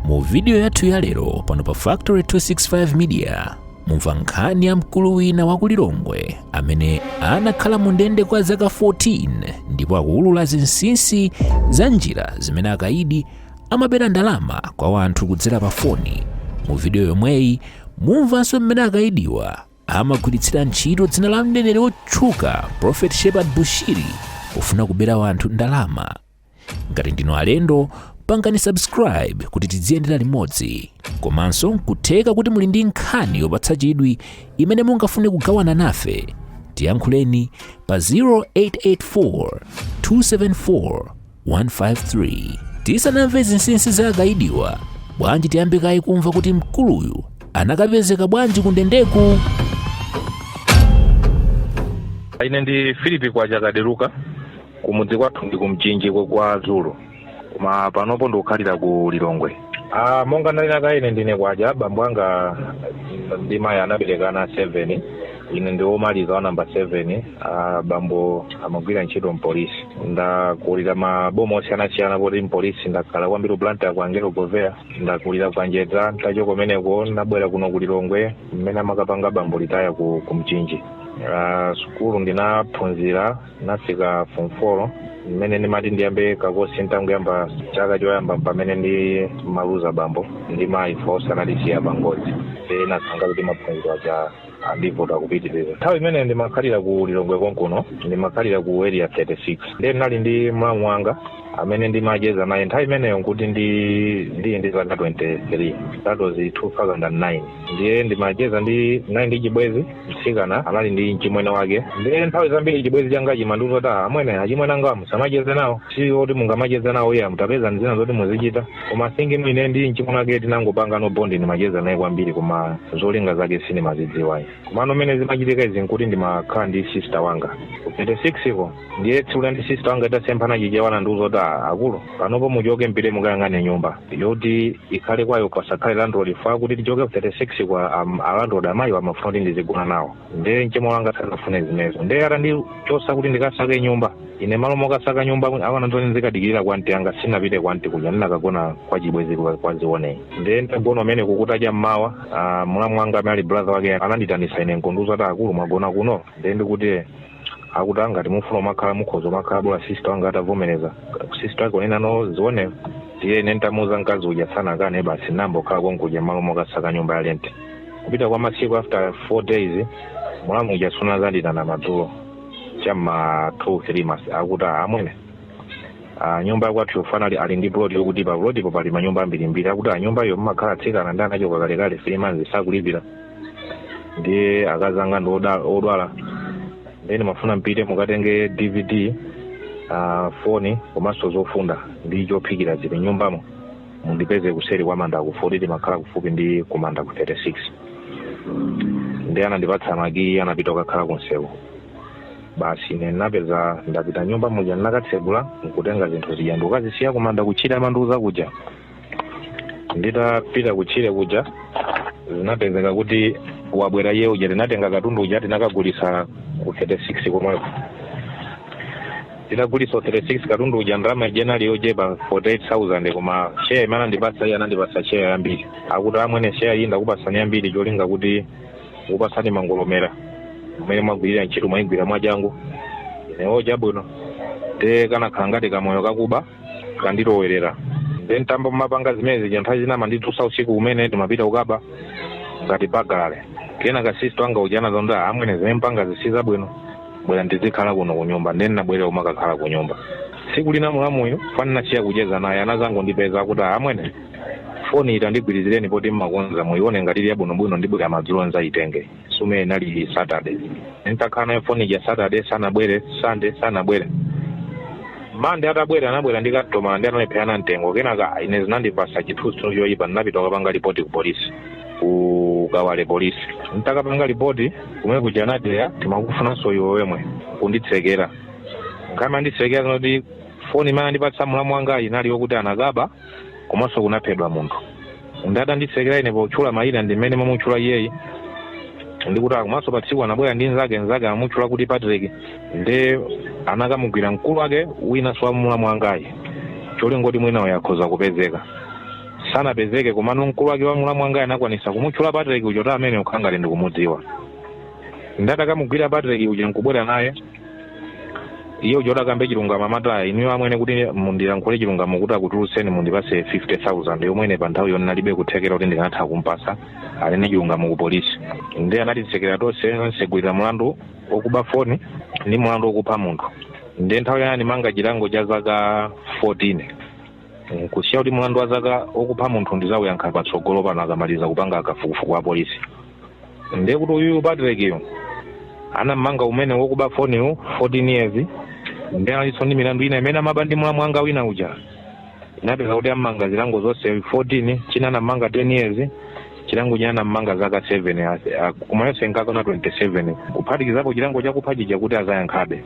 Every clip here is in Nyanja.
mu vidiyo yathu ya lero pano pa factory 265 media mumva nkhani ya mkulu wina wa kulilongwe amene anakhala mu ndende kwa zaka 14 ndipo akuwulula zinsinsi za njira zimene akaidi amabera ndalama kwa wanthu kudzera pa foni mu vidiyo yomweyi mumvanso mmene akaidiwa amagwiritsira ntchito dzina la mneneri wotchuka prophet shepard bushiri pofuna kubera wanthu ndalama ngati ndinu alendo pangani subscribe kuti tidziyendera limodzi komanso nkutheka kuti muli ndi nkhani yopatsa chidwi imene mungafune kugawana nafe tiyankhuleni pa 0884 274 153 tisanamve zinsinsi za akaidiwa bwanji tiyambe kaye kumva kuti mkuluyu anakapezeka bwanji kundendeku ine ndi philip kwachakaderuka kumudzi kwathu ndi kumchinji kwa- kwa zulu koma panopo ndikukhalira ku lilongwe ah, monga ndanena kale ine ndine kwaja bambo anga ndi mayi anaberekana 7 ine ndi womaliza wa namba 7 ah, bambo amagwira ntchito mpolisi ndakulira maboma osiyanasiyana poti mpolisi ndakhala kwambiri blantyre kwa angelo goveya ndakulira kwa njedza ntachoka kumeneko ndabwera kuno ku lilongwe mmene amakapanga bambo retire ku, ku mchinji Ah, sukulu ndinaphunzira ndinafika form four mmene ndimati ndiyambe kakosi ntangoyamba chaka choyamba pamene ndimaluza bambo ndi mayi onse anatisiya pangozi e nachangoti maphunziro aja andivuta kupitirira nthawi imene ndimakhalira ku lilongwe konkuno ndimakhalira ku area 36 ndiye ndinali ndi mlamu wanga amene ndimacheza naye nthawi imeneyo nkuti ndi ndili ndi zaka 23 that was 2009 ndiye ndimacheza ndi naye ndi chibwezi mtsikana anali ndi mchimwene wake ndiye nthawi zambiri chibwezi changa chimandiuza kuti amwene achimwene anga musamacheze nawo si oti mungamacheze nawo ayi mutapeza ndi zina zoti muzichita koma then ineyo ndi mchimwene wake tinangopanga bond ndimacheza naye kwambiri koma zolinga zake sindimazidziwayi komano mmene zimachitika izi nkuti ndimakhala ndi sister wanga 36 ko ndiye tsiku lina ndi sister wanga titasemphana chichewa nandiuza kuti "Ah, akulu panopo muchoke mpite mukayang'ane nyumba yoti ikhale kwayo pasakhale landlord chifukwa kuti tichoke ku 36 kwa um, alandlord amayi amafuna kuti ndizigona nawo ndiye mchemwali wanga sanafune zimenezo ndiye atandichosa kuti ndikasake nyumba ine malo mokasaka nyumba anandiuza ndizikadikirira kwa anti anga sinapite kwa anti kuja ndinakagona kwa chibwezi kwa- kwa zione ndiye ndagona mmene kutacha mmawa ah, mlamu wanga amene ali brother wake ananditanisa ine nkundiuza kuti akulu mwagona kuno ndiye ndikuti akuti ngati mufuna kumakhala mukhoza kumakhala bola sister wanga atavomereza sister wake kunena zione ndiye ine ntamuuza mkazi uja sanakane basi nayamba kukhala konkuja malo mokasaka nyumba ya rent kupita kwa masiku after four days mlamu uja anazanditana madzulo chamma two three mas akuti amwene amwene nyumba yakwathu yofana ali, ali ndi plot yokuti pa plotipo pali manyumba ambirimbiri akuti nyumba iyo mumakhala mtsikana nde anachoka kalekale three months sakulipira ndiye akazi anga ndi oda- odwala nde ndimafuna mpite mukatenge dvd uh, foni komanso zofunda ndi chophikira zili nyumbamo mundipeze kuseri kwa manda ku 40 timakhala kufupi ndi kumanda ku 36 nde anandipatsa makiyi anapita kukakhala kunsewu basi ine ndinapeza ndapita nyumba muja ndinakatsekula nkutenga zinthu zija ndikukazisiya kumanda kutchire amandiuza kuja nditapita kutchire kuja zinapezeka kuti wabwera iye uja tinatenga katundu uja tinakagulisa ku 36 komweko tinagulisa 36 katundu uja ndalama ija inali yochepa 48000 koma share imene andipasa iye anandipasa share yambiri akuti amwene share iyi ndakupasani yambiri cholinga kuti kupasani ndimangolemera mmene mwagwirira ntchito mwayigwira mwachangu inewo chabwino nde kanakhala ngati kamoyo kakuba kandilowerera nde ntayamba kumapanga zimene zija nthawi zina amanditulutsa usiku umene timapita kukaba ngati bagale kenaka sister wanga uja anazaona amwene zimene mkupangazi si zabwino bwerani dzikhalani kuno kunyumba nde ndinabwerera kumakakhala kunyumba tsiku lina mulamuyo poti ndinasiya kucheza naye anazangondipeza kuti amwene foni iyi tandigwirizireni poti mmakonza muione ngati ili yabwinobwino ndibwera madzulo nzaitenge sume inali saturday ntakhala nayo foni ija saturday sanabwere sunday sanabwere monday atabwera anabwera ndi kastomala nde analepherana mtengo kenaka ine zinandipasa chithunzithunzi choyipa ndinapita kukapanga lipoti ku polisi ku kawale polisi ntakapanga lipoti kumene kuja anati eya timakufunanso iwe wemwe kunditsekera nkhani amanditsekera ndi yoti foni imene andipatsa mulamu wanga inali yokuti anakaba komanso kunaphedwa munthu nde atanditsekera ine potchula mayina ndi mmene ndimamutchula iyeyi ndikuti komanso pa tsiku anabwera ndi nzake nzake amamutchula kuti patrick nde anakamugwira mkulu wake winanso wa mulamu wangayu cholinga choti mwina uyo akhoza kupezeka sanapezeke komano mkulu wake wa mulamu wangayu anakwanisa kumutchula patrick uja kuti ameneyu nkhangati ndikumudziwa nde atakamugwira patrick uja nkubwera naye iye uja oti akambe chilungamo amati iyayi inuyo amwene kuti ndilankhule chilungamo kuti akutulutseni mundipase 50000 yomwe ine pa nthawiyo ndinalibe kuthekera kuti ndikanatha kumpasa anene chilungamo ku polisi ndiye anatitsekera tonse nkutsegulira mulandu okuba foni ndi mulandu okupha munthu ndiye nthawiyo anandimanga chilango cha zaka 14 nkusiya kuti mlandu wa zaka okupha munthu ndizauyankha patsogolo pano akamaliza kupanga kafukufuku apolisi ndiye kuti uyu patrickyo anammanga omwewo wokuba foniwo 14 years nde analinso ndi milandu ina imene amaba ndi mulamu wanga wina uja zinapezeka kuti ammanga zilango zonse 14 china anammanga 10 years chilango china anammanga zaka 7 koma yonse nkukwana 27 kuphatikizapo chilango chakupha chija kuti azayankhabe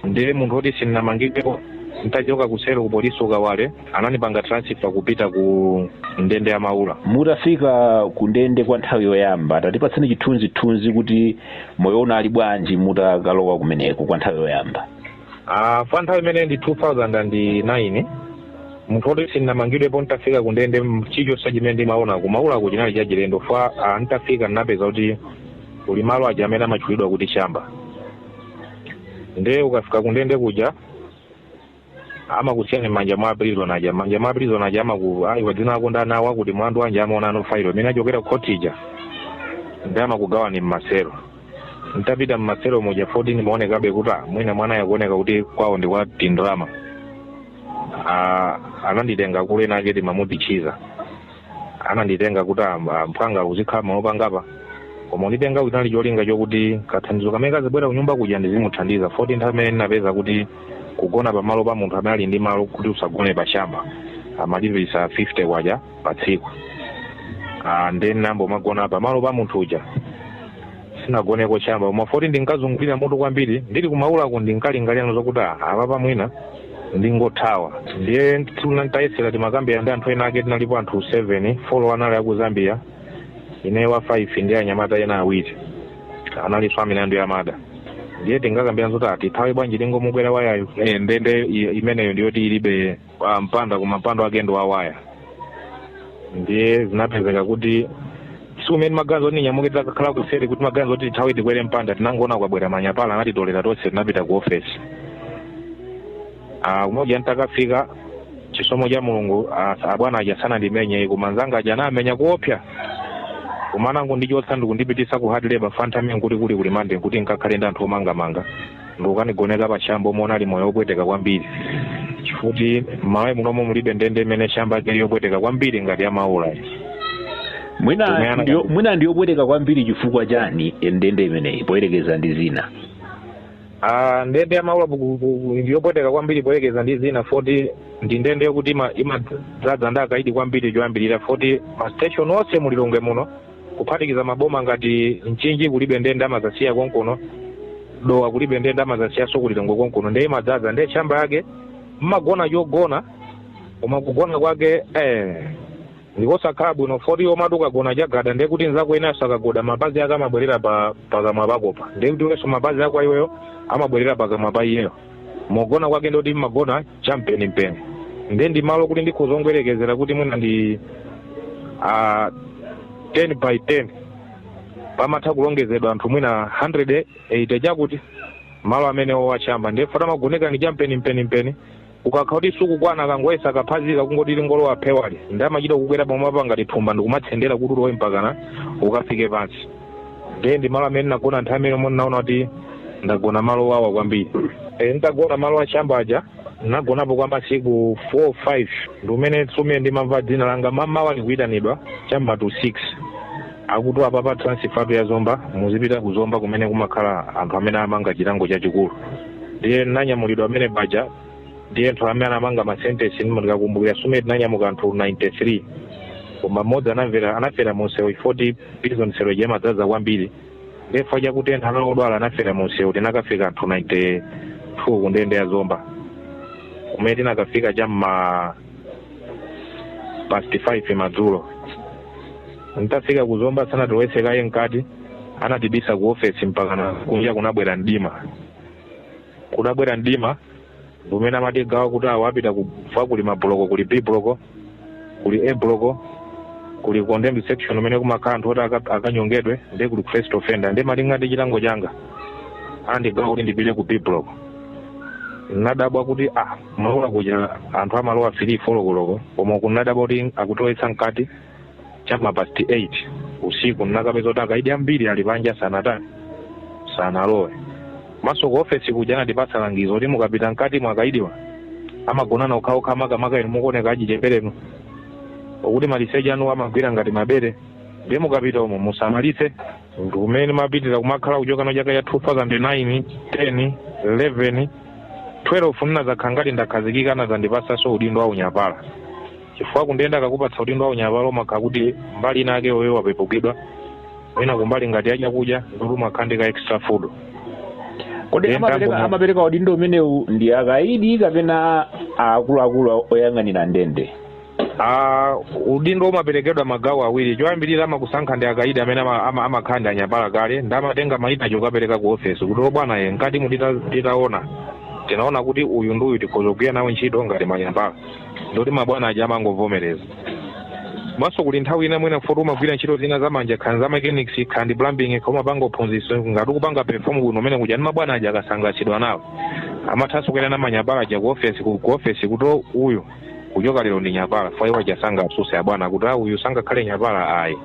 ndiye munthu woti sindinamangidwepo ntachoka kuseri ku polisi ku Kawale anandipanga transfer kupita ku ndende ya Maula mutafika ku ndende kwa nthawi yoyamba tatipatseni chithunzithunzi kuti moyo unali bwanji mutakalowa kumeneko kwa nthawi yoyamba Ah, kwa nthawi imene ndi 2009 munthu woti sindinamangidwepo ntafika ku ndende m- chilichonse chimene ndimaona ku Maulako chinali chachilendo fa ah, ntafika ndinapeza kuti kuli malo aja amene amatchulidwa kuti shamba ndiye ukafika kundende kuja amakusiyani mmanja mwa prison aja mmanja mwa prison aja amaku ayiwa dzina lako ndani awa kuti mlandu wanji amaona ano failo imene achokera ku khoti ija ndi amakugawani mmaselo ntapita mmaselo muja 14 ndimaonekabe kuti ah, mwina mwanayu akuoneka kuti kwawo ndi kwa tindrama Ah, ananditenga akulu enake timamuti Chiza ananditenga kuti am- mphwanga uzikhala malo angapa koma kunitenga kunali cholinga chokuti kathandizo kamene kazibwera kunyumba kuja ndizimuthandiza 14 nthawi imene ndinapeza kuti kugona pamalo pa munthu amene ali ndi malo kuti usagone pa shamba amalipisa 50 kwacha pa tsiku Ah, ndiye ndinayambo magona pamalo pa munthu uja sinagoneko shamba koma 14 ndinkazungulira mutu kwambiri ndili ku Maulako ndinkalingalira zokuti ah, apapa mwina ndingothawa ndiye tuna- tayesera timakambira ndi anthu ena ake tinalipo anthu 7 folo anali aku Zambia ine wa 5 ndi anyamata ena awiri analinso a milandu ya mada ndiye tinkakambira zoti tithawe bwanji tingomukwera wayayo Eh, ndende i- imeneyo ndiyoti ilibe ah, mpanda koma mpanda wake ndi wawaya ndiye zinapezeka kuti tsiku limene maganizo oti ndinyamuke titakhala kuseri kuti maganizo oti tithawe tikwere mpanda tinangoona kwabwera manyapala anatitolera tonse tinapita ku ofesi Ah, kumuja ntakafika chisomo cha Mulungu ah, abwana aja sanandimenye koma nzanga aja anamenya kuopsa koma anangondichotsa ndikundipitisa ku hard labor fa nthawi imene kuti kuli ku limande kuti nkakhale ndi anthu omangamanga ndikukanigoneka pa shamba momwe unali moyo wopweteka kwambiri chifuti m'Malawi munomo mulibe ndende imene shamba yake ili yopweteka kwambiri ngati ya Maula mwina Kumeyana ndiyo- kati. mwina ndiyopweteka kwambiri chifukwa chani ndende imeneyi poyerekeza ndi zina Ah, ndende ya Maula buku- buku- ndi yopweteka kwambiri poyerekeza ndi zina foti ndi ndende yokuti ima- imadzaza ndi akaidi kwambiri choyambirira foti ma station onse mu Lilongwe muno kuphatikiza maboma ngati Mchinji kulibe ndende amazasiya konkuno Dowa kulibe ndende amazasiyaso ku Lilongwe konkuno nde imadzaza nde shamba yake mmagona chogona koma kugona kwake eh, ndikosakhala bwino foti umati ukagona chagada nde kuti nzako winaso akagona mapazi ake amabwerera pa pakamwa pakopo nde kuti wenso mapazi ako iweyo amabwerera pakamwa pa iyeyo mogona kwake ndi oti mumagona champenimpeni ndiye ndi malo kuti ndikhoza kungoyerekezera kuti mwina ndi ah, 10 by 10 pamatha kulongezedwa anthu mwina 180 chakuti malo amenewo a chamba ndi fota magoneka ndi champenimpenimpeni ukakhala kuti sukukwana akangoyesa kaphazika kungoti lingolowa phewali ndiye amachita kukwera pamwamba ngati thumba ndikumatsendera kuti ulowe mpakana ukafike pansi ndiye ndi malo amene ndinagona nthawi imeneyo ndinaona kuti ndagona malo owawa kwambiri e, nditagona malo a chamba aja ndinagonapo kwa masiku 4 5 ndi mmene tsopano ndimamva dzina langa mmamawa likuyitanidwa cha mma to 6 akuti apapa transfer ya zomba muzipita ku zomba kumene kumakhala anthu amene amangidwa chilango chachikulu ndiye ndinanyamulidwa amene paja ndiye anthu amene anamangidwa masentensi ndikakumbukira tsiku limene tinanyamuka anthu 93 koma mmodzi anafera munsewu chifukwa choti prison cell ija imadzaza kwambiri ndi chifukwa chakuti anthu ena anali odwala anafera munsewu tinakafika anthu 92 ku ndende ya zomba kumene tinakafika cha mma past 5 madzulo nditafika ku zomba sanatilowetse kaye mkati anatibisa ku ofesi mpakana kunja kunabwera mdima kutabwera mdima ndi mmene amatigawa kuti awa apita chifukwa kuli mabuloko kuli b buloko kuli a buloko kuli condemned section umene kumakhala anthu oti aka- akanyongedwe ndiye kuli first offender ndiye malinga ndi chilango changa anandigawa kuti ndipite ku b buloko nadabwa kuti ah ku maula kuja anthu amalowa fili fo koloko koma kuno nadabwa kuti akutilowetsa mkati chama past 8 usiku ndinakapeza kuti akaidi ambiri ali panja sanatani sanalowe komanso ku ofesi kuja anatipatsa langizo kuti mukapita mkati mwa- akaidiwa amagonana okhaokha makamaka inu mukuoneka achicheperenu okuti machesiti anu amawagwira ngati mabere ndiye mukapita umo musamalitse ndi mmene ndimapitirira kumakhala kuchoka mchaka cha 2009 10 11 12 ndinazakhala ngati ndakhazikika anazandipatsanso udindo wa unyapala chifukwa kundende akakupatsa udindo wa unyapala umakhala kuti mbali ina yake iweyo wapepukidwa mwina kumbali ngati ya chakudya ndikuti umakhala ndi ka extra food kodi amapereka udindo umenewu ndi akaidi kapena akuluakulu oyang'anira ndende Ah, udindo umaperekedwa magawo awiri choyambirira amakusankha ndi akaidi amene ama- ama- amakhala ndi anyapala kale ndiye amatenga mayina ajawo kukapereka ku ofesi kuti abwana ife mkatimu titaona tinaona kuti uyu ndi uyu tikhoza kugwira nawo ntchito ngati manyapala ndoti mabwana aja amangovomereza maso kuli nthawi ina mwina futi umagwira ntchito zina za manja khani za mechanics khandi plumbing kha umapanga uphunzitso ngati ukupanga perform bwino umene kuja ndi mabwana aja akasangalatsidwa nawe amathanso kuyenda na manyapala aja ku ofesi ku ku ofesi kuti "Oh, uyu kuchoka lero ndi nyapala fwa iwo aja sangasuse abwana kuti "Ah, uyu sangakhale nyapala ayi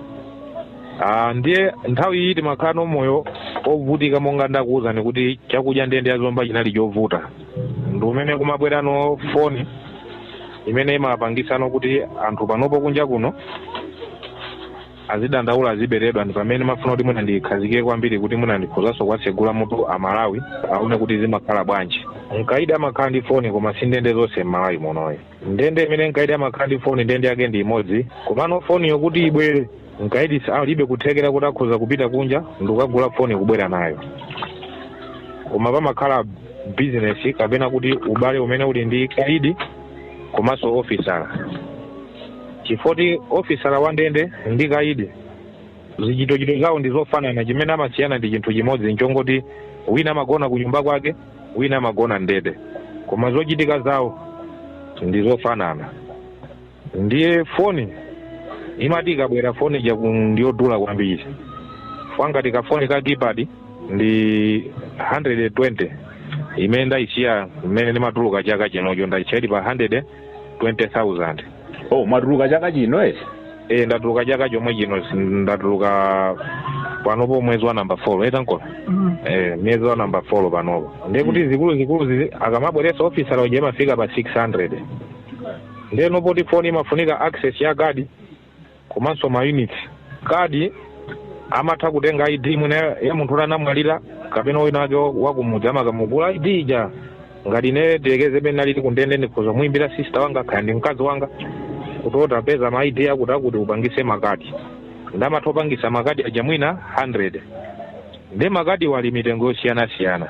Ah, ndiye nthawi iyi timakhala moyo ovutika monga ndakuwuzani kuti chakudya ndende ya Zomba chinali chovuta ndi umene kumabwerano foni imene imapangitsano kuti anthu panopo kunja kuno azidandaula aziberedwa ndi pamene ndimafuna kuti mwina ndikhazikike kwambiri kuti mwina ndikhozanso kuwatsegula mutu amalawi aone kuti zimakhala bwanji mkaidi amakhala ndi foni koma si ndende zonse m'malawi muno ayi ndende imene mkaidi amakhala ndi foni ndende yake ndi imodzi komano foniyo kuti ibwere mkaidi sa- alibe kuthekera kuti akhoza kupita kunja ndikukagula foni kubwera nayo koma pamakhala bizinesi kapena kuti ubale umene uli ndi kaidi komanso ofisala chifoti ofisala wa ndende ndi kaidi zichitochito zawo ndi zofanana chimene amasiyana ndi chinthu chimodzi nchongoti wina amagona ku nyumba kwake wina amagona ndende koma zochitika zawo ndi zofanana ndiye foni imati ikabwera foni ija ku- ndiyodula kwambiri fwa ngati kafoni ka keypad ndi 120 imene ndayisiya mmene ndimatuluka chaka chinocho ndayisiya ili pa 120000 oh mwatuluka chaka chino eti e ndatuluka chaka chomwe chino s- ndatuluka panopo mwezi wa namba fo etankola Mm. e mwezi wa namba fo panopo ndiye kuti Mm. zikulu zikulu zizi- akamabweresa ofisala uja imafika pa 600 ndiye nopoti foni imafunika access ya kadi komanso ma units kadi amatha kutenga id mwina ya munthu oti anamwalira kapena wina wake wakumudzi amakamugula id ija ngati ine tiyerekeze mmene ndinali kundende ndikhoza kumuyimbira sister wanga kaya ndi mkazi wanga kuti utapeza ma id akuti akuti upangise makadi ndi amatha kupangisa makadi aja mwina 100 ndi makadi ali mitengo yosiyanasiyana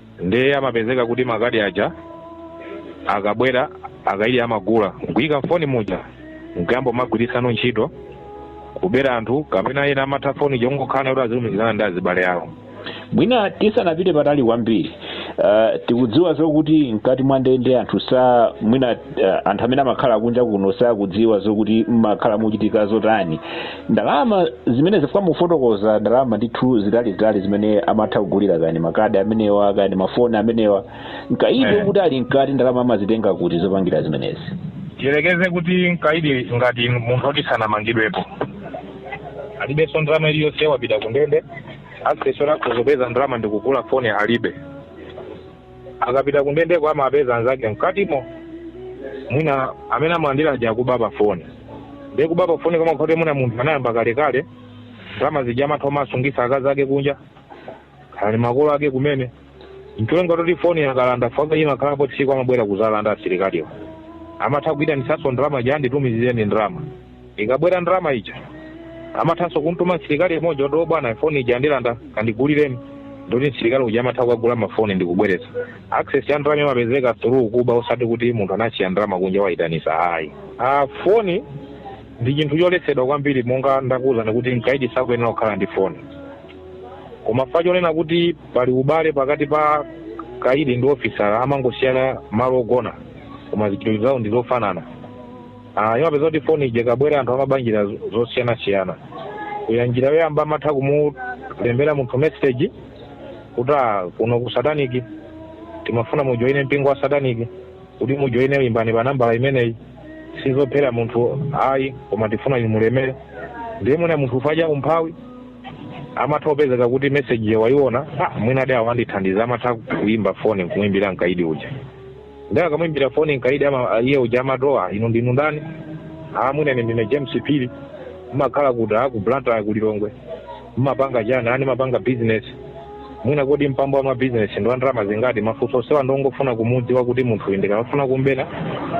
ndiye amapezeka kuti makadi aja akabwera akaidi amagula nkuyika mfoni muja nkuyamba kumagwirisano ntchito kubera anthu kapena ena amatha foni ija kungokhala nayo kuti azilumikizana ndi azibale awo mwina tisanapite patali kwambiri uh, tikudziwa zokuti mkati mwa ndende anthu sa mwina eh, anthu amene amakhala kunja kuno sakudziwa zokuti mmakhala muchitika zotani ndalama zimene zifukwa mukufotokoza ndalama ndithu zitalizitali zimene amatha kugulira kaya ndi makadi amenewa kaya ndi mafoni amenewa mkaidi Eh. kuti ali mkati ndalama amazitenga kuti zopangira zimenezi tiyerekeze kuti mkaidi ngati munthu oti sanamangidwepo alibenso ndalama iliyonse wapita kundende access yoti akhoza kupeza ndalama ndikugula foni alibe akapita kundendeko amapeza anzake mkatimo mwina amene amalandira aja akuba pa foni ndiye kuba pa foni koma kuti mwina munthu anayamba kalekale ndalama zija amatha omasungisa akazi ake kunja kaya makolo ake kumene ncholenga toti foni akalanda faka imakhalapo tsiku amabwera kuzalanda asilikaliwo amatha kuitanitsanso ndalama ija nditumizireni ndalama ikabwera ndalama ija amathanso kumtuma msilikali mmodzi kuti bwana foni ija andilanda kandigulireni ndoti msilikali uja amatha kukagula mafoni ndikubweretsa access ya ndalama imapezeka through kuba osati kuti munthu anasiya ndalama kunja wayitanisa ayi ah, foni ndi chinthu choletsedwa kwambiri monga ndakuwuzani kuti mkaidi sakuyenera kukhala ndi foni koma fa chonena kuti pali ubale pakati pa kaidi ndi ofisa amangosiyana malo ogona koma zichitidwe zawo ndi zofanana Ah, imapezeka kuti foni ija ikabwera anthu amaba njira zo- zosiyanasiyana kuya njira yoyamba amatha kumulembera munthu message kuti "Ah, kuno ku sataniki timafuna mujoine mpingo wa sataniki kuti mujoine imbani pa nambala imeneyi sizophera munthu ayi koma tifuna inu mulemere ndiye mwina munthu uja fa umphawi amatha kupezeka kuti message ijayo wayiona ah, mwina adawa andithandiza amatha kuimba foni nkumuimbira mkaidi uja Ndiye akamwimbira foni mkaidi ama iye uja amati ah inu ndinu ndani? Ah mwina ine ndine James Phiri. Mmakhala kuti ah ku Blantyre ku Lilongwe. Mmapanga chani? Ah ndimapanga business. Mwina kodi mpamba wa business ndi ndalama zingati? Mafunso onsewa ndongofuna kumudziwa kuti munthu uyu ndikamafuna kumbera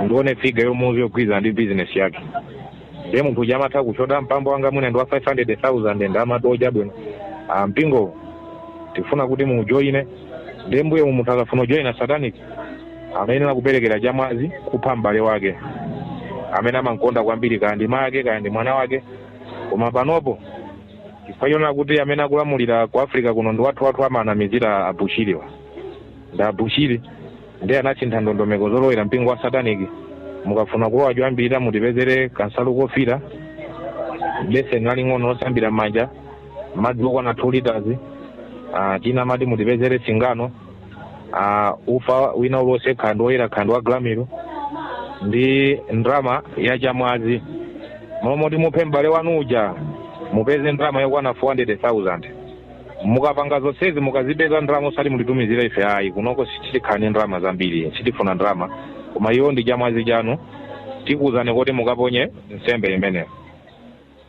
ndione figa yomuuza yogwirizana ndi business yake. ndiye munthu uja amatha kutchula mpamba wanga mwina ndi wa 500000 ndiye amati oh chabwino ah, mpingo tifuna kuti muujoine ndiye mmbuyomu munthu akafuna ujoina satanic amayenera kuperekera chamwazi kupha m'bale wake amene amankonda kwambiri kaya ndi make kaya ndi mwana wake koma panopo chifukwa chonena kuti amene akulamulira ku africa kuno ndi wathu wathu amanamizira abushiriwa ndi abushiri ndiye anasintha ndondomeko zolowera mpingo wa satanic mukafuna kulowa choyambirira mutipezere kansalu kofira beseni laling'ono losambira m'manja madzi okwana 2 liters ah, chinanso mati mutipezere singano ah, ufa wina ulionse kaya ndi woyera kaya ndi wa gramil ndi ndrama ya chamwazi mmalo moti muphe m'bale wanu uja mupeze ndrama yokwana 400000 mukapanga zonsezi mukazipeza ndalama osati mutitumizire ife ayi kunoko tili kale ndi ndalama zambiri sitifuna ndalama koma iyo ndi chamwazi chanu tikuwuzani kuti mukaponye nsembe imeneyo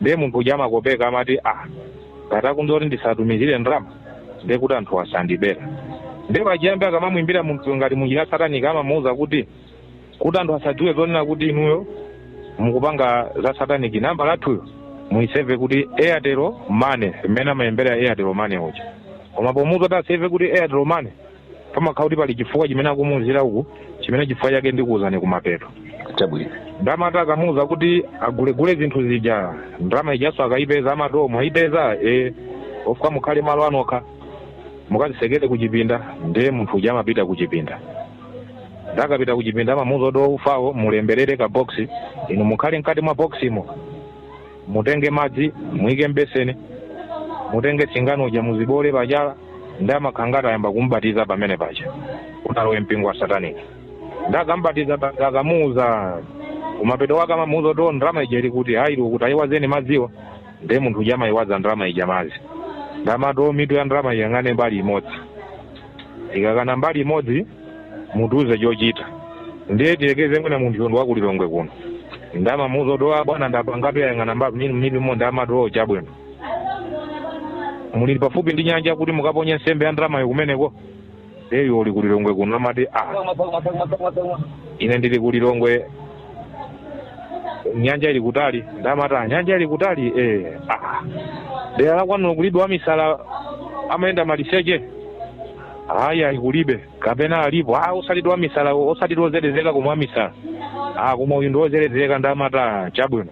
ndiye munthu uja amakopeka amati ah ngati akundiuza kuti ndisatumizire ndalama ndiye kuti anthuwa sandibera ndiye pachiyambi akamamwimbira munthu ngati munjira sataniki amamuwuza kuti kuti anthu asadziwe zoona kuti inuyo mukupanga za satanic nambala yathuyo muiseve kuti airtel money mmene amalembera airtel money uja koma pomuza kuti aseve kuti airtel money pamakhala kuti pali chifukwa chimene akumuuzira uku chimene chifukwa chake ndikuuzani kumapeto chabwino nde amati akamuuza kuti agulegule zinthu zija ndalama ijaso akayipeza amati mwayipeza e ofunika mukhale malo anokha mukazisekere kuchipinda ndiye munthu uja amapita kuchipinda nde akapita kuchipinda amamuuza kuti ufawo mulemberere ka box inu mukhale mkati mwa boximo mutenge madzi muike mbeseni mutenge singano uja muziboole pachala nde amakhala ngati ayamba kumubatiza pamene paja kuti alowe mpingo wa sataniki nde akambatiza akamuuza kumapeto kwake amamuuza kuti "Oh, ndalama ija ili kuti ayi iliwo kuti ayiwazeni madziwa ndiye munthu uja amayiwaza ndalama ija madzi nde amati mitu ya ndalama iyang'ane mbali imodzi ikayang'ana mbali imodzi mutiuze chochita ndiye tiyekeze mwina munthu uja ndi wakulilongwe kuno nde amamuuza kuti "Ah, bwana ndapangatu yayang'ana mbali imodzi nde amati oo chabwino muli pafupi ndi nyanja kuti mukaponye nsembe ya ndalamayo kumeneko iyeyo ali kulilongwe kuno amati ah ine ndili kulilongwe nyanja ili kutali nde amati aa nyanja ili kutali eh ah dera la kwanuko kulibe wamisala amayenda maliseche ayayi kulibe kapena alipo ah osati wamisala osati wozelezeka koma wamisala ah koma uyu ndi ozelezeka nde amati aa chabwino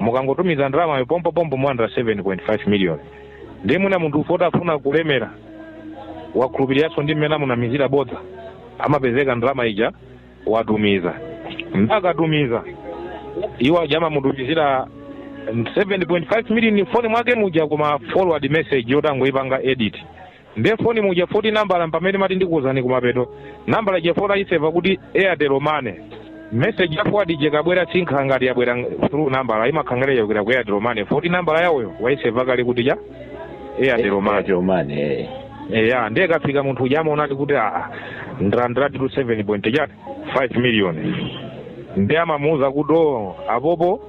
mukangotumiza ndalamayo pompopompo mulandira 7.5 million ndiye mwina munthu uja foti afuna kulemera wakhulupiriranso ndi mmene amunamizira bodza amapezeka ndalama ija watumiza nde akatumiza iwo aja amamutumizira 7.5 million foni mwake muja koma forward message yoti angoipanga edit nde foni muja foti nambala mpamene mati ndikuwuzani kumapeto nambala ija foti ayiseva kuti airtel money message ya forward ija ikabwera simakhala ngati yabwera ng- through nambala imakhala ngati yabwera ku airtel money foti nambala yawoyo wayiseva kale kuti ya airtel money Airtel money, eh. eya ndiye ikafika munthu uja amaona kuti aa ndalandiratu seven point chakuti five million ndiye amamuwuza kuti o apopo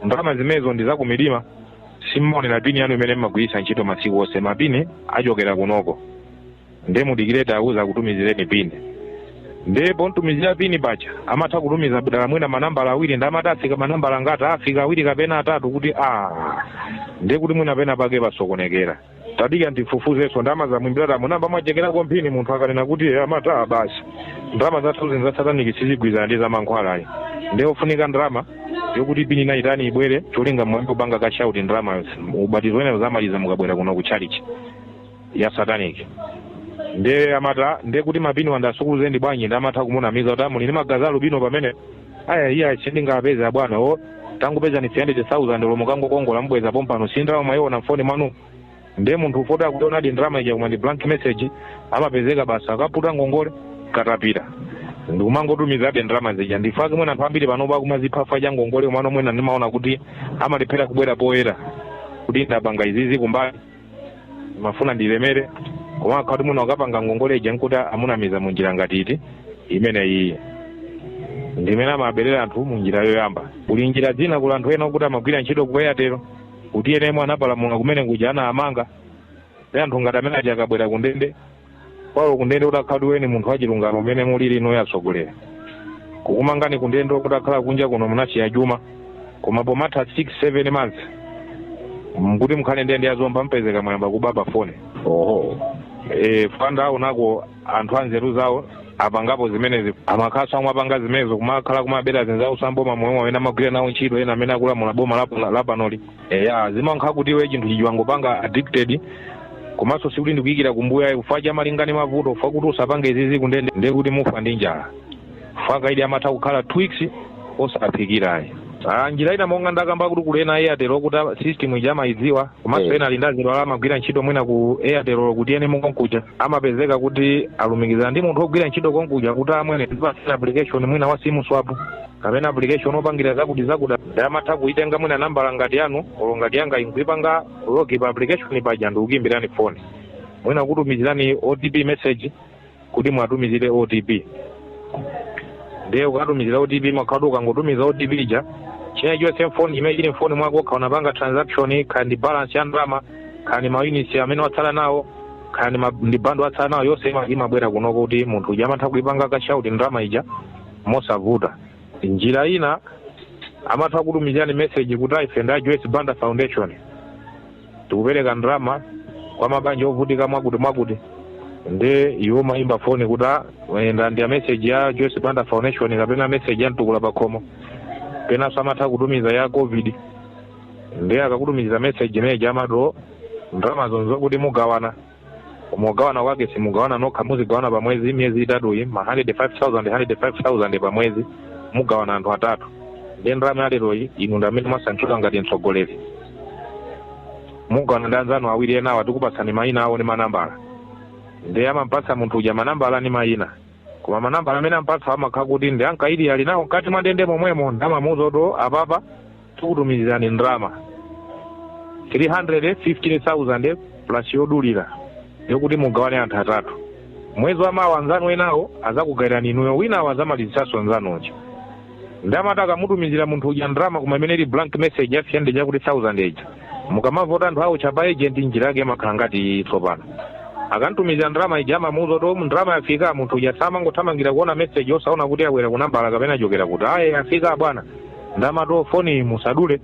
ndalama zimenezo ndi zakumidima simumaonera pini yanu imene mmagwiritsa ntchito masiku onse ma pini akuchokera kunoko nde mudikire tiwauza akutumizireni pini nde pomtumizira pini paja amatha kutumiza dala mwina manambala awiri nde amati afika manambala angati afika awiri kapena atatu kuti a nde kuti mwina pena pake pasokonekera tadika ndifufuzenso ndalama zamwimbiratamu namba mwachekera ku mphini munthu akanena kuti "Eh, amata basi ndalama zathuzi za sataniki sizigwirizana ndi zamankhwalayi ndi ofunika ndalama yokuti pini nayitani ibwere cholinga mwambi kupanga cash out ndalama ubatizo wena zamaliza mukabwera kuno ku tchalitchi ya sataniki nde amata nde kuti mapini wandasukuluze ndi bwanji ndi amatha kumunamiza kuti amuli ndi magazi a alubino pamene aya iya sindingapeze abwana o tangopezani 300000 lomwe kangokongola mubweza pompano si ndalama mayiona mfoni mwanu ndiye munthu ufoti akuonadi ndalama ija koma ndi blank message amapezeka basi akaputa ngongole katapita ndikumangotumizabe ndalama zija nchifwake mwina anthu ambiri panopo akumadzipha ifa cha ngongole umano mwina ndimaona kuti amalephera kubwera poyera kuti ndapanga izizi kumbali mafuna ndilemere koma akhala kuti mwina akapanga ngongole ija nkuti amunamiza mu njira ngati iyi imene iyi ndimene amaberera anthu mu njira yoyamba kuli njira zina kuli anthu ena okuti amagwira ntchito ku Airtel kuti ena amene anapalamula kumene kuja anawamanga ndi anthu ngati amene aja akabwera ku ndende paulo kundende utakhala weniweni munthu wachilungamo mmene mulili inuyo atsogoleri kukumangani kundende kutakhala kunja kuno munasiya chuma koma pomatha 6 7 months nkuti mukhale ndende yazomba mupezeka mwayamba kuba pa foni oho e, fanda unako anthu anzeru zawo apangapo zimenezi amakhalanso omwe apanga zimenezo kumakhala kumabera anzawo a m'boma momwe ena amagwira nawo ntchito ena amene akulamula boma lap- lapanoli eya zimakhala kuti iwe chinthu chija wangopanga addicted komanso sikuti ndikuyikira kumbuyo chifukwa cha malinga ndi mavuto chifukwa kuti usapange izizi kundende ndiye kuti mufa ndi njala chifukwa kaidi amatha kukhala two weeks osaphikira ayi Ah, njira ina monga ndakamba kuti kuli ena airtel okuti a- system ija amayidziwa komanso Eh. ena ali ndi azibale awo amagwira ntchito mwina ku airtel kuti ena mukonkuja amapezeka kuti alumikizana ndi munthu ogwira ntchito konkuja kuti amwene application mwina wa sim swap kapena application opangira zakuti zakuti nde amatha kuitenga mwina nambala ngati yanu olo ngati yanga nkuipanga login pa application paja ndikukuimbirani phone mwina kutumizirani otp message kuti muwatumizire otp ndiye ukatumizira otp makhala ukangotumiza otp ija china chilichonse mfoni chimene chili mfoni mwako kaya unapanga transaction kaya ndi balance ya ndalama kaya maunits amene watsala nawo kaya ma- ndi bundle watsala nawo yonse ima- imabwera kunoko kuti munthu uja amatha kuipanga cash out ndalama ija mosavuta. Njira ina amatha kutumizirani message kuti ife ndi a Joyce Banda Foundation tikupereka ndalama kwa mabanja ovutika mwakuti mwakuti nde iwo amayimba foni kuti "Ah, eh, nda ndi a message ya Joyce Banda Foundation kapena message ya mtukula pakhomo penanso amatha kutumiza ya covid nde akakutumiza message imeneyi amado ndalamazo nzokuti mugawana koma kugawana kwake simugawana nokha muzigawana pa mwezi miyezi itatuyi ma 105,000 105,000 pa mwezi mugawana anthu atatu ndiye ndalama yaleroyi inu ndi amene mwasankhidwa ngati mtsogoleri mugawana ndi anzanu awiri enawa tikupatsani mayina awo ndi manambala ndiye amampatsa munthu uja manambala ndi mayina koma manambala amene ampatsa amakhala kuti ndi ankaidi ali nawo mkati mwa ndende momwemo nde amamuuza kuti apapa tikutumizirani ndalama 315,000 plus yodulira yokuti mugawane anthu atatu mwezi wa mawa anzanu enawo azakugayirani inuyo winawo azamalizitsanso anzanu uja nde amati akamutumizira munthu uja ndalama koma imene ili blank message ya 300 chakuti 1000 ija mukamamva kuti anthu awotcha pa agent njira yake imakhala ngati iyi tsopano akamtumizira ndalama ija amamuuza kuti o ndalama yafika munthu ujanso amangothamangira kuona message osaona kuti yabwera ku nambala kapena yachokera kuti aye yafika bwana nde amati foni musadule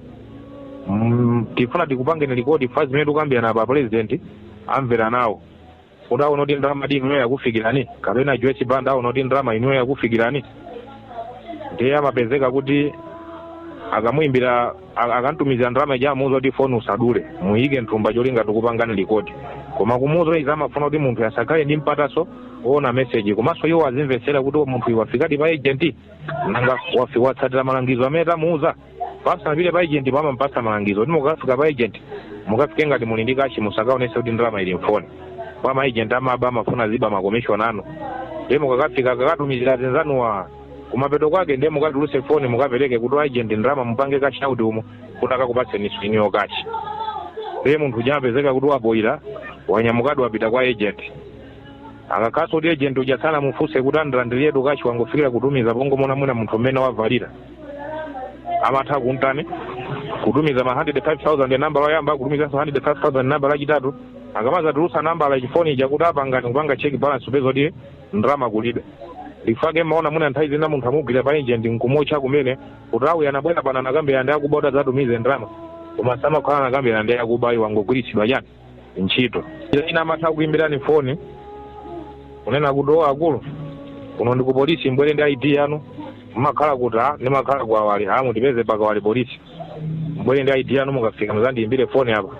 mm, tifuna tikupangeni rekodi pa zimene tikukambirana apa president amvere nawo kuti aone kuti ndalamadi inuyo yakufikirani kapena joyce banda aone kuti ndalama inuyo yakufikirani ndiye amapezeka kuti akamuyimbira a- akamtumizira ndalama ija amuuza kuti foni usadule muyike m'thumba cholinga tikupangeni rekodi koma kumuuza izi amafuna kuti munthu asakhale ndi mpatanso woona meseji komanso iwo azimvetsera kuti munthuyu wafikadi pa agent nanga wafi watsatira malangizo amene tamuuza apa asanapite pa agent pa amampatsa malangizo kuti mukafika pa agent mukafike ngati muli ndi kashi musakaonese kuti ndalama ili mfoni kwa ma agent amaba amafuna aziba makomishoni anu ndiye mukakafika akatumizira azinzanuwa kumapeto kwake ndiye mukatuluse foni mukapereke kuti agent ndalama mupange cash out umo kuti akakupatseninso inuyo kashi ndiye munthu uja amapezeka kuti wapoyira wanyamukadi wapita kwa agent akakhalanso kuti agent uja sanamufunse kuti andilandiretu kashi wangofikira kutumiza pongomuona mwina munthu mmene wavalira amatha kuntani kutumiza ma 105000 nambala yoyamba kutumizanso 105000 nambala yachitatu akamazatulutsa nambala yachi- foni ija kuti apangani kupanga check balance kupeza kuti ndalama kulibe ndi fake maona mwina nthawi zina munthu amugwira pa agent nkumuotcha kumene kuti awa anabwera pano anakambirana ndi akuba kuti adzatumize ndalama koma samakhala anakambirana ndi akuba iwo angogwiritsidwa chani ntchito njira ina amatha kukuimbirani foni kunena kuti o akulu kuno ndi ku polisi mbwere ndi id yanu mmakhala kuti a ndimakhala ku kawale a mutipeze pa kawale polisi mbwere ndi id yanu mukafika muzandiimbire foni apa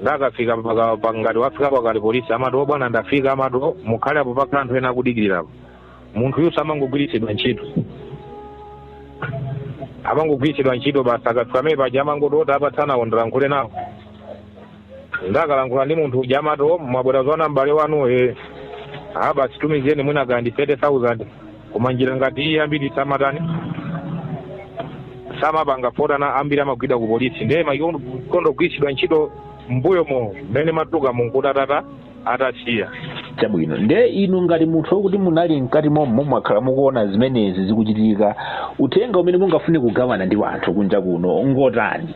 nde akafika paka pa- ngati wafika pa kawale polisi amati o bwana ndafika amati o mukhale apo pakhala anthu ena akudikirira apo munthuyuso amangogwiritsidwa ntchito amangogwiritsidwa ntchito basi akafika amene paja amangoti o tiwapatse nawo ndilankhule nawo nde akalankhula ndi munthu uja amati o mwabwera zoona m'bale wanu e a basi tumizireni mwina kaya ndi 30000 koma njira ngati iyi ambiri samatani samapanga fukwa chani ambiri amagwidwa ku polisi ndiye amakonda ogwiritsidwa ntchito mbuyomo mmene amatuluka munkutatata atasiya chabwino nde inu ngati munthu wokuti munali mkati momo mwakhala mukuona zimenezi zikuchitika uthenga umene mungafune kugawana ndi wanthu kunja kuno ngotani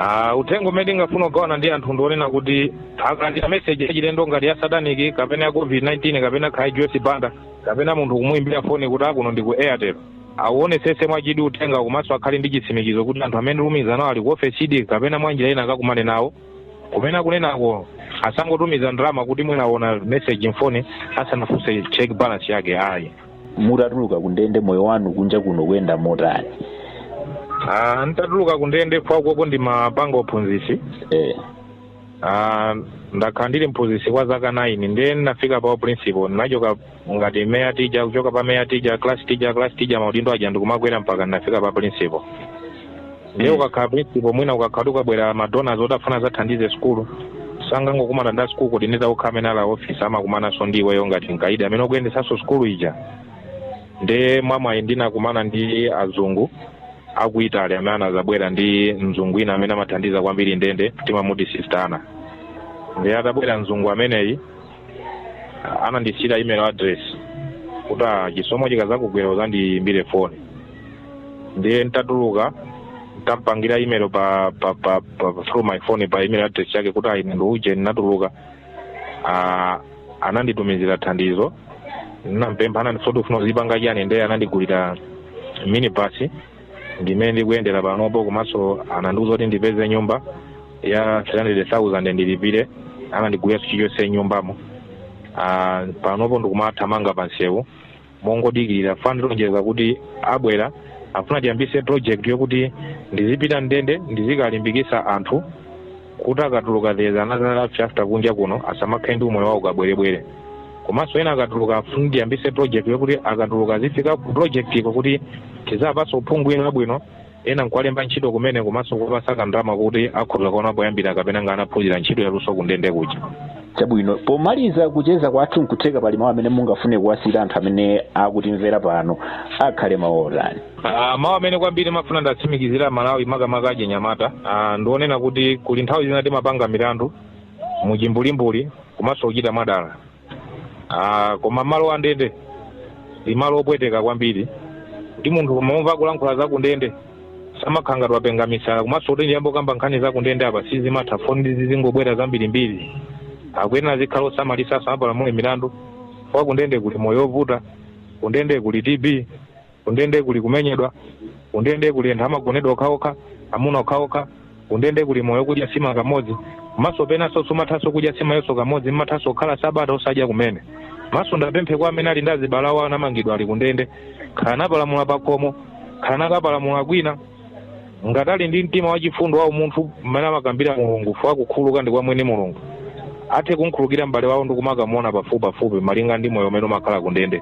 Ah, uthenga umene ndingafune kugawana ndi anthu ndi onena kuti akalandira meseji yachilendo ngati ya sataniki kapena ya covid-19 kapena kaya ya joyce banda kapena munthu kumuimbira foni kuti akuno ndi ku airtel awuonesese mwachidwi uthenga komanso akhale ndi chitsimikizo kuti anthu amene akulumikizana nawo ali ku ofesidi kapena mwanjira ina akakumane nawo kumene kumeneko asangotumiza ndalama kuti mwina aona message mfoni asanafunse check balance yake ayi mutatuluka kundende moyo wanu kunja kuno ukuyenda motani Ah, nditatuluka kundende fukwa konko ndimapanga uphunzitsi eh. Ah, ndakhala ndili mphunzitsi kwa zaka 9 ndiye ndinafika pa principal ndinachoka ngati mere teacher kuchoka pa mere teacher class teacher class teacher maudindo aja ndikumakwera mpaka ndinafika pa principal ndiye ukakhala principal mwina ukakhala akabwera madonors oti afuna azathandize sukulu sangangokumana ndi a sukulu coordinator okha amene ali a office amakumananso ndi iweyo ngati mkaidi amene ukuyendesanso sukulu ija ndiye mwamwayi ndinakumana ndi azungu aku italy amene anazabwera ndi mzungu wina amene amathandiza kwambiri ndende timamuti sister anna ndiye atabwera mzungu ameneyi anandisiyira email address kuti ah, chisomo chikazakugwera uzandiyimbire foni ndiye ntatuluka ntamupangira email pa, pa, pa, pa through my phone pa email address yake kuti ayi munthu uja ndinatuluka ah, ananditumizira thandizo nditampempha anandifunsa oti ufuna uzipanga chani ndiye anandigulira minibasi ndimene ndikuyendera panopo komanso anandiuza kuti ndipeze nyumba ya 300,000 ndilipire anandigulira chilichonse mnyumbamo Ah, panopo ndikumathamanga pa nsewu mongodikirira fukwa anandilonjeza kuti abwera afuna tiyambise project yokuti ndizipita mndende ndizikalimbikisa anthu kuti akatuluka there is another life after kunja kuno asamakhale ndi umoyo wa ukabwerebwere komanso ena akatuluka afuna ndiyambise project yokuti akatuluka azifika ku projectiko kuti tiziwapasa uphungu uja wabwino ena nkuwalemba ntchito kumene komanso kuwapasa kandalama kuti akhoza kuona poyambira kapena ngati anaphunzira ntchito yaluso kundende kuja chabwino pomaliza kucheza kwathu nkutheka pali mawu amene mungafune kuwasiyira anthu amene akutimvera pano akhale mawu otani Ah, mawu amene kwambiri ndimafuna ndatsimikizire aMalawi makamaka achinyamata Ah, ndi onena kuti kuli nthawi zina timapanga milandu muchimbulimbuli komanso kuchita mwadala Ah, koma malo andende ndi malo opweteka kwambiri kuti munthu kumamva kulankhula za kundende zimakhala ngati wapenga misala komanso nditi ndiyambe kukamba nkhani za kundende apa sizingathe foni zizingobwera zambirimbiri akuyenera azikhala osamalitsa asamapalamule milandu chifukwa kundende kuli moyo ovuta kundende kuli tb kundende kuli kumenyedwa kundende kuli anthu amagonedwa okhaokha amuna okhaokha kundende kuli moyo okudya nsima kamodzi komanso penanso simathanso kudya nsimayonso kamodzi mmathanso kukhala sabata osadya kumene komanso ndapempheko amene ali ndi azibale awo anamangidwa ali kundende kaya anapalamula pakhomo kaya anakapalamula kwina ngati ali ndi mtima wachifundo wa umunthu mmene amakambira mulungu chifukwa kukhululuka ndi kwa mwini mulungu athe kumkhululukira m'bale wawo ndi kumakamuona pafupipafupi malinga ndi moyo umene umakhala kundende